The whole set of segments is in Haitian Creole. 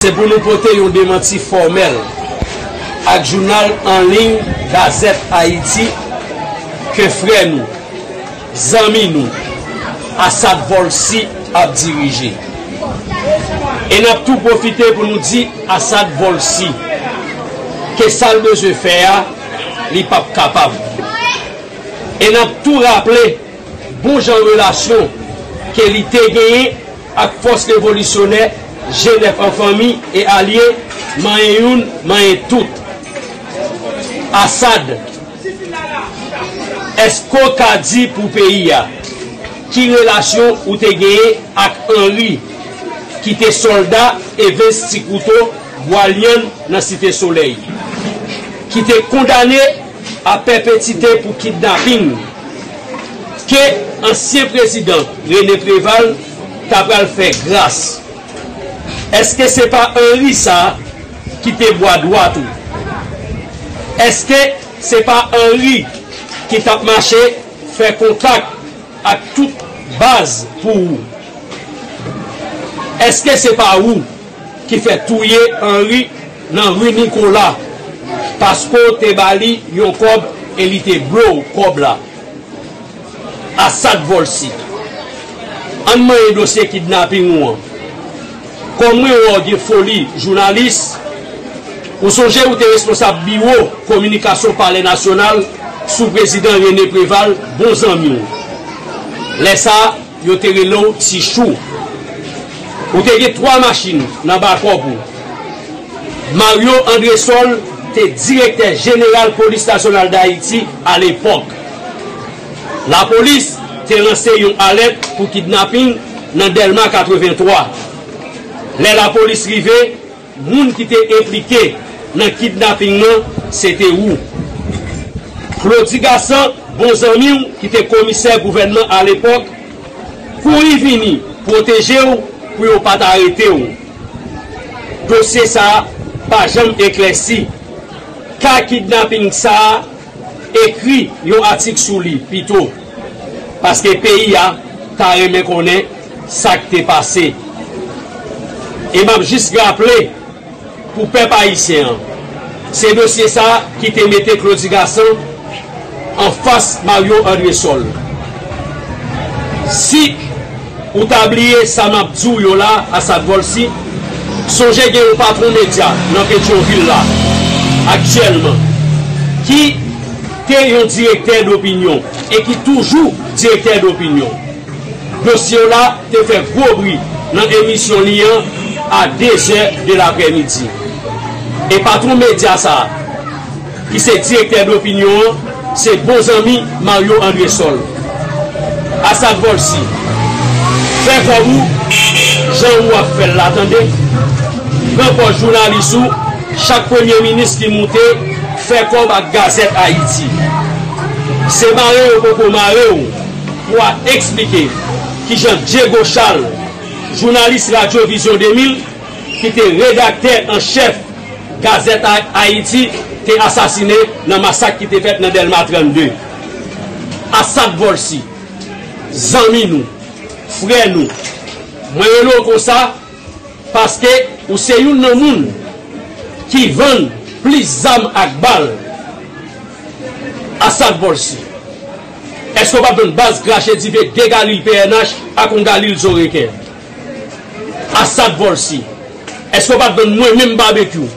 Se pou nou pote yon demanti fòmèl ak jounal an liy Gazette Haïti ke frè nou, zanmi nou, Assad Volcy ap dirije. E n ap tou pwofite pou nou di Assad Volcy ke sa l bezwen fè a li p ap kapab. E n ap tou raple bon jan relasyon ke li te genyen Ak fòs revolisyonè, jenèf an fanmi e alye, manyen youn, manyen tout. Assad, Èske w ka di pou peyi a, ki relasyon ou te genyen ak Henri, ki te sòlda Evens Ti Kouto, Bwalyann, nan Site Solèy, ki te kondane, A pèpetite pou kidnaping ke ansyen prezidan René Préval ta pral fè gras. Eske se pa Henri sa ki te bwa dwat ou? Eske se pa Henri ki tap mache fè kontak ak tout baz pou ou? Eske se pa ou? ki fè touye Henri nan rue Nicolas paske w te ba li yon kòb e li te ble w kòb la Assad Volcy ann manyen dosye kidnapping ou an kòm mwen wè w gen foli jounalis ou sonje ou te responsab biwo kominikasyon palè nasyonal sou prezidan René Préval bon zanmi w lè sa. Yo te rele w ti chou. Ou te gen twa machin nan bakòp ou. Mario Andresol te direktè jeneral Polis Nasyonal Dayiti alepòk. Lapolis te lanse yon alèt pou kidnaping nan Dèlma 83. Lè lapolis rive. Moun ki te enplike nan kidnaping nan se te ou. Claudy Gassant, bon zanmi w ki te komisè gouvènman alepòk, kouri vini pwoteje w pou yo pa t arete w. Dosye sa a pa janm eklèsi. Ka kidnaping sa a Ekri yon atik sou li pito, paske peyi a ta renmen konnen sa k te pase. E m ap jis raple pou pèp ayisyen an, se dosye sa ki te mete Claudy Gassant anfas Mario Andresol. Si. Ou ta bliye sa map di w yo la Assad Volcy, sonje gen yon patron medya nan Petyonvil la aktyèlman ki te yon direktè dopinyon e ki toujou direktè dopinyon. Dosye w la te fè gwo bri nan emisyon li an a dezè de laprèmidi e patron medya sa, ki se direktè Dopinion an, se bon zanmi Mario Andresol. Asad Volcy, fè kò ou jan ou ap fè l la tande, pran pòz jounalis ou, chak premye minis ki moute fè kòb ak Gazette Haïti. Se mare yo poko mare w pou a eksplike kijan Diego Charles, jounalis Radyo Vizyon 2000, ki te redaktè an chèf Gazette Haïti te asasine nan masak ki te fèt nan Dèlma 32. Assad Volcy, zanmi nou, frè nou, mwen rele w konsa paske ou se youn nan moun ki vann plis zam ak bal. Assad Volcy, èske w pa p vann baz krache dife de Galil pnh ak yon Galil zo reken? Asad Volcy, Èske w pa t donn mwen menm Babekyou,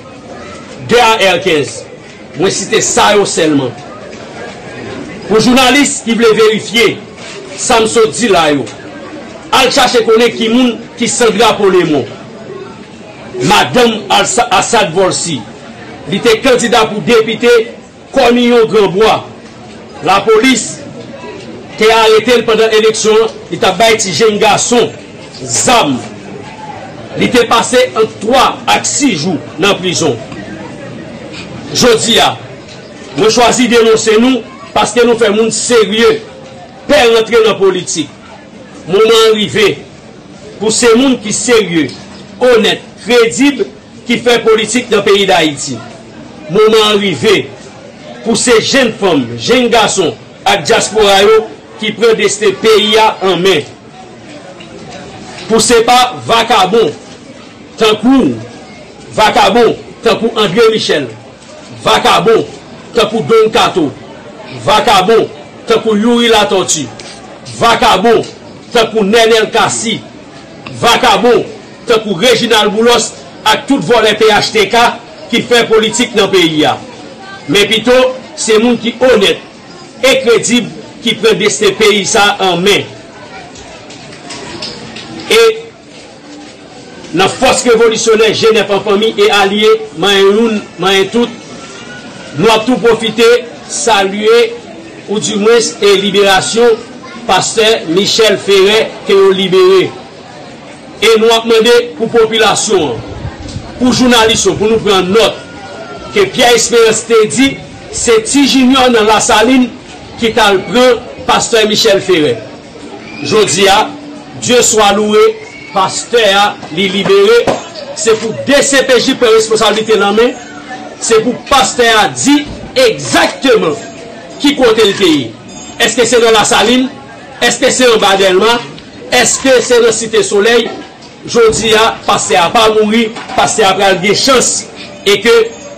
Gérard Herkens, mwen site sa yo sèlman pou jounalis ki vle verifye sa m sot di la yo al chache konnen ki moun ki Sandra Polémon, madanm Asad Volcy, li te kandida pou depite. Kòniyon Granbwa, lapolis te arete l pandan eleksyon an, li t ap bay ti jenn gason zam. Li te pase ant 3 ak 6 jou nan prizon. Jodi a, mwen chwazi denonse nou paske nou fè moun serye pè rantre nan politik. Moman an rive pou se moun ki serye, onèt, kredib ki fè politik nan peyi Dayiti. Moman an rive pou se jenn fanm, jenn gason ak dyaspora yo ki pran desten peyi a an men. Pou se pa vakabon tankou w, vakabon tankou Andre Michel, vakabon tankou Don Kato, vakabon tankou Youri Latortue, vakabon tankou Nenel Cassy, vakabon tankou Reginald Boulos ak tout vòlè phtk ki fè politik nan peyi a. Men pito se moun ki onèt e kredib ki pran desten peyi sa an men. E nan fòs revolisyonè Jenèf an fanmi e alye manyen youn manyen tout, nou ap tou pwofite salye ou di mwens e liberasyon pastè Michel Ferre ke yo libere. E nou ap mande pou popilasyon an, pou jounalis yo pou nou pran nòt ke Pierre Esperance te di se Ti Junior nan Lasalin ki t al pran Pastè Michel Ferre. Jodi a, Dye swa loure, Pastè a li libere, se pou dcpj pran responsablite l an men, se pou Pastè a di egzakteman ki kote l te ye. Eske se nan Lasalin? Eske se anba Dèlma? Eske se nan site solèy jodi a pastè a pa mouri pastè a pral gen chans e ke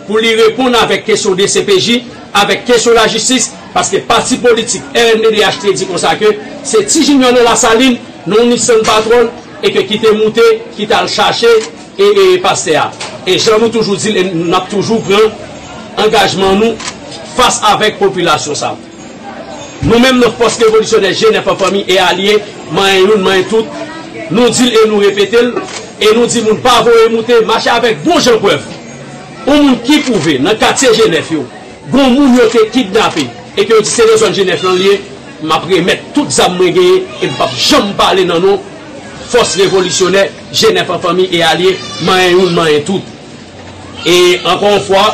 pou li reponn avèk kesyon dcpj avèk kesyon lajistis paske pati politik rnddh te di konsa ke se ti jinyò nan lasalin nan yon nissan patròl e ke ki te moute ki tal chache e pastè a e jan nou toujou dil e nap toujou pran angajman nou fas avèk popilasyon sa. Nou menm nan Fòs Revolisyonè Jenèf an fanmi e alye, manyen youn manyen tout, nou di l e nou repete l, e nou di moun pa voye moute, mache avèk bon jan prèv. Yon moun ki pwouve nan katye Jenèf yo gon moun yo te kidnape e ke yo di se nan zòn Jenèf lan l ye, m ap remèt tout zam mwen genyen e m p ap janm pale nan non Fòs Revolisyonè Jenèf an fanmi e alye, manyen youn manyen tout. E ankò yon fwa,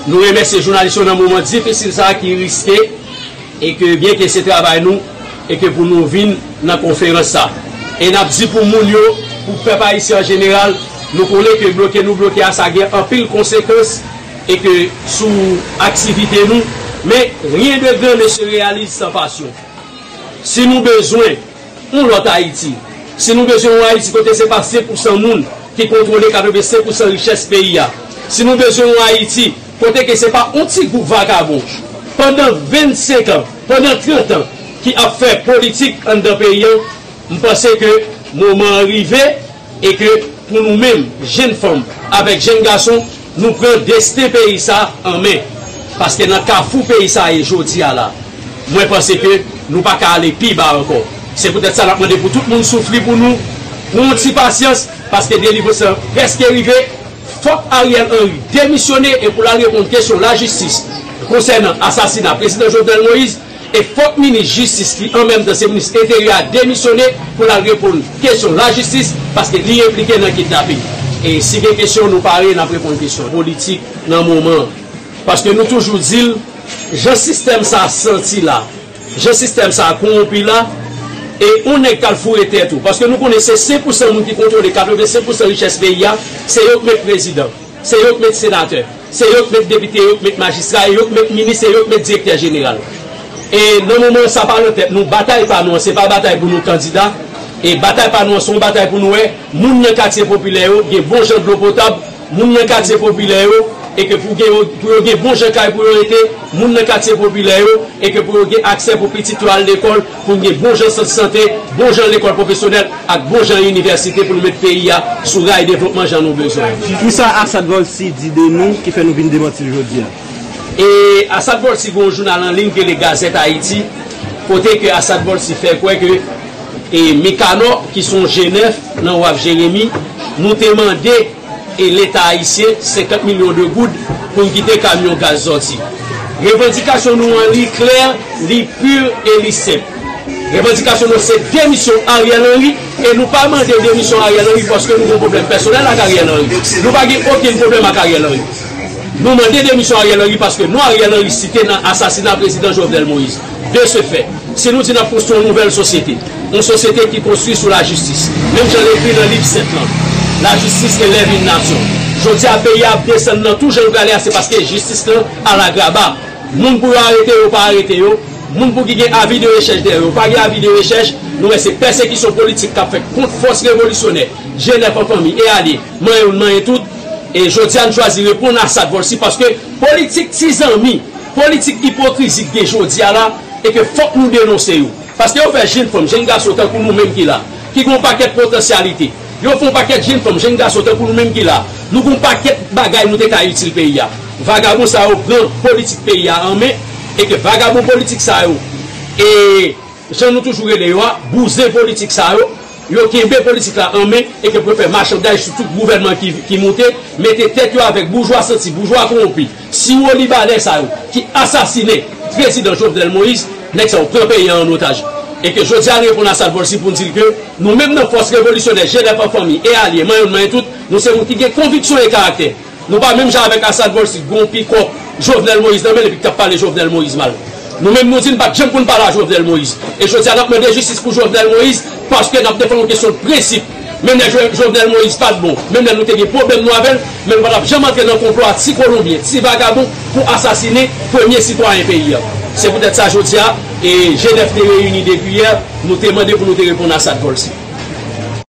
nou remèsye jounalis yo nan moman difisil sa ki riske e ke byen ke se travay nou e ke pou nou vin nan konferans sa. E n ap di pou moun yo, pou pèp ayisyen an jeneral, nou konnen ke bloke nou bloke a sa gen anpil konsekans e ke sou aktivite nou, men rien de grand ne se réalise sans passion. Si nou bezwen. Yon lòt Ayiti. Si nou bezwen yon Ayiti kote se pa 5 pou san moun ki kontwole 85 pou san richès peyi a. Si nou bezwen yon Ayiti kote ke se pa yon ti gwoup vagabon pandan 25 an, pandan 30 an ki ap fè politik anndan peyi an, m panse ke moman an rive. E ke pou nou menm, jenn fanm avèk jenn gason, nou pran desten peyi sa an men. Paske nan kafou peyi sa ye jodi a la, mwen panse ke nou pa ka ale pi ba ankò. Se poutèt sa n ap mande pou tout moun soufri pou nou, pran yon ti pasyans, paske delivrans lan prèske rive. Fòk Ariel Henry demisyone e pou l al reponn kesyon lajistis konsènan asasina Prezidan Jovenel Moïse. E fòk minis jistis ki an menm tan se minis enteryè a demisyone pou lal reponn kesyon lajistis paske li enplike nan kidnaping. E si gen kesyon nou pare nap reponn kesyon politik nan moman an. Paske nou toujou di l jan sistèm sa santi la, jan sistèm sa kowonpi la e on nèg kal foure tèt ou paske nou konnen se 5 pousan moun ki kontwole 85 pousan richès peyi a se yo k met prezidan, se yo k met senatè. Se yo k met depite, yo k met majistra, e yo k met minis, e yo k met direktè jeneral. E nan moman an sa pa nan tèt nou, batay pa nou an se pa batay pou nou kandida, e batay pa nou an se yon batay pou nou wè moun nan katye popilè yo gen bon jan dlo potab, moun nan katye popilè yo e ke pou gen pou yo gen bon jan kay pou yo rete, moun nan katye popilè yo e ke pou yo gen aksè pou pitit yo al lekòl. pou n gen bonjan sant sante, bonjan lekòl pwofesyonèl ak bonjan inivèsite pou nou met peyi a sou ray devlopman jan nou bezwen yo. Ki sa Assad Volcy di de nou ki fè nou vin demanti l jodi a? E Assad Volcy gen yon jounal an liy ki rele Gazette Haïti kote ke Assad Volcy fè kwè ke e Mikanò ki se yon jenèf nan waf Jeremi nou te mande e leta ayisyen 50 milyon de goud pou n kite kamyon gaz sòti. Revandikasyon nou an li klè, li pur e li senp. Revandikasyon nou se demisyon Ariel Henry e nou pa mande demisyon Ariel Henry paske nou gen yon pwoblèm pèsonèl ak Ariel Henry. Nou pa gen okenn pwoblèm ak Ariel Henry. Nou mande demisyon Ariel Henry paske non Ariel Henry site nan asasina prezidan Jovenel Moïse. De se fè, si nou di n ap konstwi yon nouvèl sosyete, yon sosyete ki konstwi sou lajistis, menm jan l ekri nan Liv sent lan, Lajistis elèv yn nasyon. Jodi a peyi a ap desann nan tou jan l prale a se paske jistis lan alagraba. Moun pou yo arete yo pa arete yo, moun pou ki gen avi de rechèch dèyè yo pa gen avi de rechèch, nou wè se pèsekisyon politik k ap fèt kont fòs revolisyonè, jenèf an fanmi e alye, manyen youn manyen tout. E jodi a n chwazi reponn a sa dvòlsi paske politik ti zanmi. Politik ipokrizi ki gen jodi a la e ke fòk nou denonse yo. Paske yo fè jenn fanm, jenn gason tankou nou menm ki la, ki gen yon pakèt potansyalite. Yo fè yon pakèt jenn fanm, jenn gason tankou nou menm ki la, nou gen yon pakèt bagay nou te ka itil peyi a. Vagabon sa yo pran politik peyi a an men e ke vagabon politik sa yo e. jan nou toujou rele yo a, bouzen politik sa yo, yo kenbe politik la an men e ke pou yo fè machandaj sou tout gouvènman ki moute, mete tèt yo avèk boujwa santi, boujwa kowonpi, siwolibanè sa yo ki asasinen Prezidan Jovenel Moïse. Nèg sa yo pran peyi an an otaj e ke jodi a n reponn a sa l vòl si pou n di l ke nou menm nan fòs revolisyonè, jenèf an fanmi e alye, manyon n manyen tout, nou se moun ki gen konviksyon e karaktè. Nou pa menm jan avèk Assad Volcy ki gon pikò Jovenel Moïse nan menl epi ki tap pale Jovenel Moïse mal. Nou menm nou di n pat janm konn pale a Jovenel Moïse e jodia nap mande jistis pou Jovenel Moïse paske nap defann yon kesyon prensip menm lè Jovenel Moïse pat bon menm lè nou te gen pwoblèm nou avèl men nou patap janm antre nan konplo a ti kolonbyen ti vagabon pou asasine premye sitwayen peyi a se poutèt sa jodia e Genève te reyini depi yè nou te mande pou nou te reponn Assad Volcy.